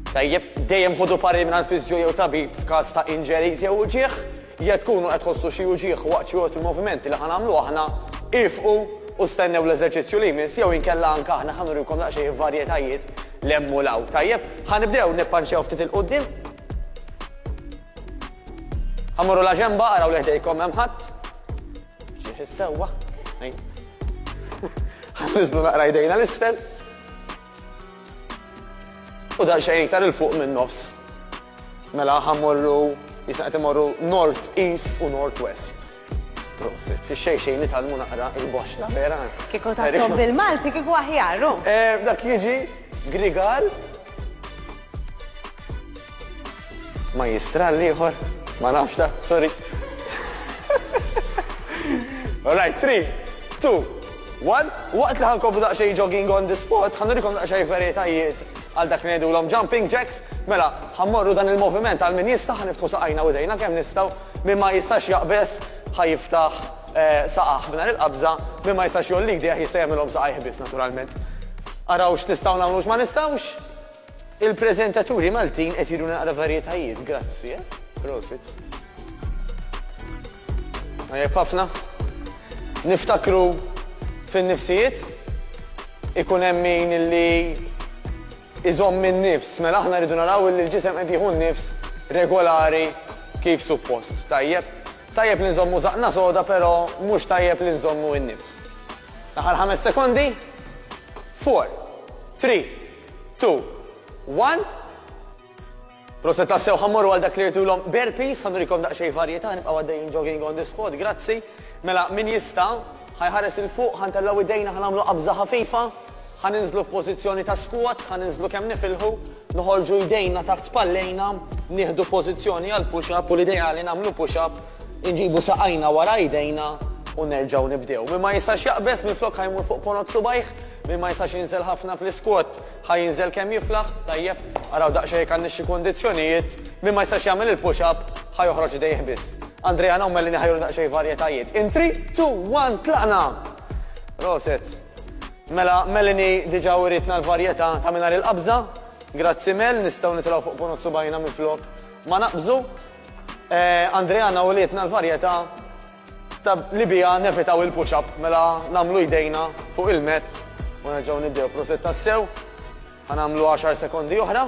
Tajjeb, dejjem ħodu pari minn fiżju jew tabib f'każ ta' injuries jew uġieħ, jekk tkunu qed tħossu xi uġieħ waqt xi waqt il-movimenti li ħanamlu aħna, ifqu u stennew l-eżerċizzju li jmiss jew inkella anke aħna ħanurikom daqsxejn il-varjetajiet li hemm u law. Tajjeb, ħanibdew nippanċew ftit il-qudiem. Ħamorru la ġemba araw li ħdejkom hemm ħadd. Ġieħ is-sewwa. Ħafizdu naqra jdejna l-isfel. U dan xejn iktar il-fuq minn nofs. Mela ħammorru, jisna qed imorru north east u north west. Prosit, xej xej nitalmu naqra il-boxla vera. Kiko ta' bil-Malti kiko aħjaru. Eh, dak jiġi grigal Majjistral l-ieħor, ma nafx da, sorry. All right, 3, 2, 1. Waqt li ħankobu daqsxejn jogging on the spot, ħanurikom daqsxejn veritajiet għal dak li ngħidulhom jumping jacks, mela ħammorru dan il-moviment għal min jista' ħaniftħu saqajna u dejna kemm nistgħu min ma jistax jaqbeż ħajiftaħ eh, saqaħ minn il-qabża min ma jistax jollik dejh jista' jagħmilhom saqajh biss naturalment. Araw x'nistgħu nagħmlu ma nistgħux, Il preżentaturi Maltin qed juru naqra varjetajiet, grazzi, eh? Prosit. Tajjeb ħafna. Niftakru fin-nifsijiet ikun hemm min li iżomm minn nifs, mela aħna rridu naraw li l-ġisem qed jieħu nifs regolari kif suppost. Tajjeb, tajjeb li nżommu zaqna soda, però mhux tajjeb li nżommu n-nifs. Naħar ħames sekondi, 4, 3, Two. One. Proset tassew ħammorru għal dak li rtulhom bare piece, ħanurikom daqsxejn varjetà, nibqgħu għaddejjin jogging on the spot, grazzi. Mela min jista' ħajħares il fuq, ħantellgħu idejna ħanagħmlu qabża ħafifa, ħaninżlu f'pożizzjoni ta' squat, ħaninżlu kemm nifilħu, noħorġu idejna taħt spallejna, nieħdu pożizzjoni għal push up u l-ideali nagħmlu push up, inġibu saqajna wara idejna u nerġgħu nibdew. Min ma jistax jaqbeż minflok ħajmur fuq ponot subajh, Min ma jistax jinżel ħafna fl-iskwot, ħa jinżel kemm jiflaħ? Tajjeb, araw daqsxejn jekk għandniex xi kundizzjonijiet. Min ma jistax jagħmel il-push up, ħa joħroġ idejh biss. Andrea Naum Mellini ħa juri daqsxejn varjetajiet. In three, two, one, tlaqna! Proset. Mela, Mellini diġà writna l-varjetà ta' mingħajr il-qabża. Grazzi Mel, nistgħu nitilgħu fuq punut subgħajna minflok ma naqbżu. Andrea Naum wrietna l-varjetà Ta' li biha nevitaw il-push up mela nagħmlu jdejna fuq il-mat u nerġgħu nibdew. Prosit tassew. Ħa nagħmlu għaxar sekondi oħra.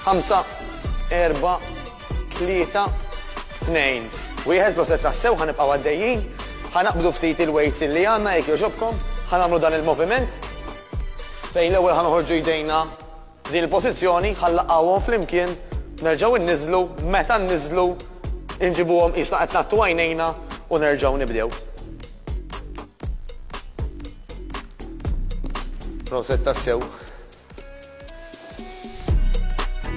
Ħamsa, erba, tlieta, tnejn. Wieħed proset tassew ħa nibqgħu għaddejjin. Ħa naqbdu ftit il-weights li għandna jekk jogħġobkom. Ħa nagħmlu dan il-moviment fejn l-ewwel ħa noħorġu jdejna Din il-pożizzjoni ħa nlaqgħuhom flimkien, nerġgħu nniżżlu, meta nniżżlu inġibuhom qisna qed ngħattu għajnejna u nerġgħu nibdew. Proset tassew.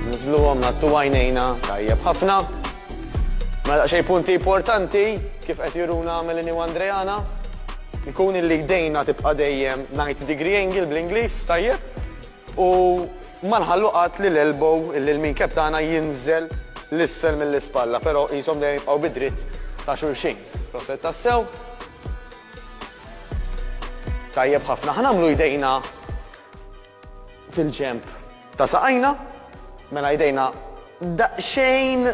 Nniżżluhom ngħattu għajnejna tajjeb ħafna. Mela xej punti importanti kif qed juruna Melanie u Andreana jkun illi jdejna tibqa' dejjem 90 degree angle bl-Ingliż tajjeb U ma nħallu qatt li l-elbow, il-lean cap tagħna jinżel 'l isfel mill-ispalla, però qishom dejjem jibqgħu bid-dritt ta' xulxin. Proset tassew. Tajjeb ħafna. Ħa nagħmlu jdejna fil-ġenb ta' saqajna. Mela jdejna daqsxejn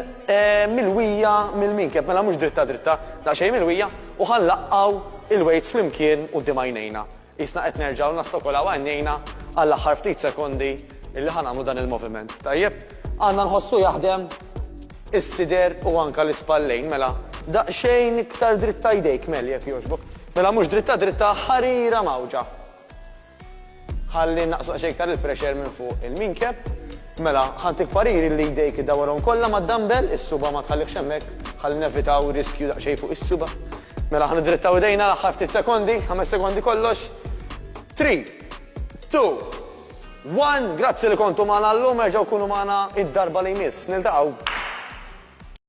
milwija mill-lean cap, mela mhux dritta dritta, daqsxejn milwija, u ħa nlaqgħu l-weights flimkien quddiem għajnejna. Qisna qed nerġgħu nastokolaw għajnejna għall-aħħar ftit sekondi li ħa nagħmlu dan il-moviment. Tajjeb, għandna nħossu jaħdem is-sider u anke l-ispallejn. Mela, daqsxejn iktar dritta jdejk, Mel, jekk jogħġbok. Mela mhux dritta dritta, ħarira mgħawġa. Ħalli nnaqqsu daqsxejn iktar il-pressure minn fuq il-minkeb. Mela, ħa ntik pariri li jdejk iddawwarhom kollha mad-dumbbell, is-suba' ma tħallihx hemmhekk, ħalli nevitaw riskju daqsxejn fuq is-suba'. Mela ħa niddrittaw idejna l-aħħar ftit sekondi, ħames sekondi kollox. Three, two, one, grazzi li kontu magħna llum, erġgħu kunu magħna id-darba li jmiss. Niltaqgħu.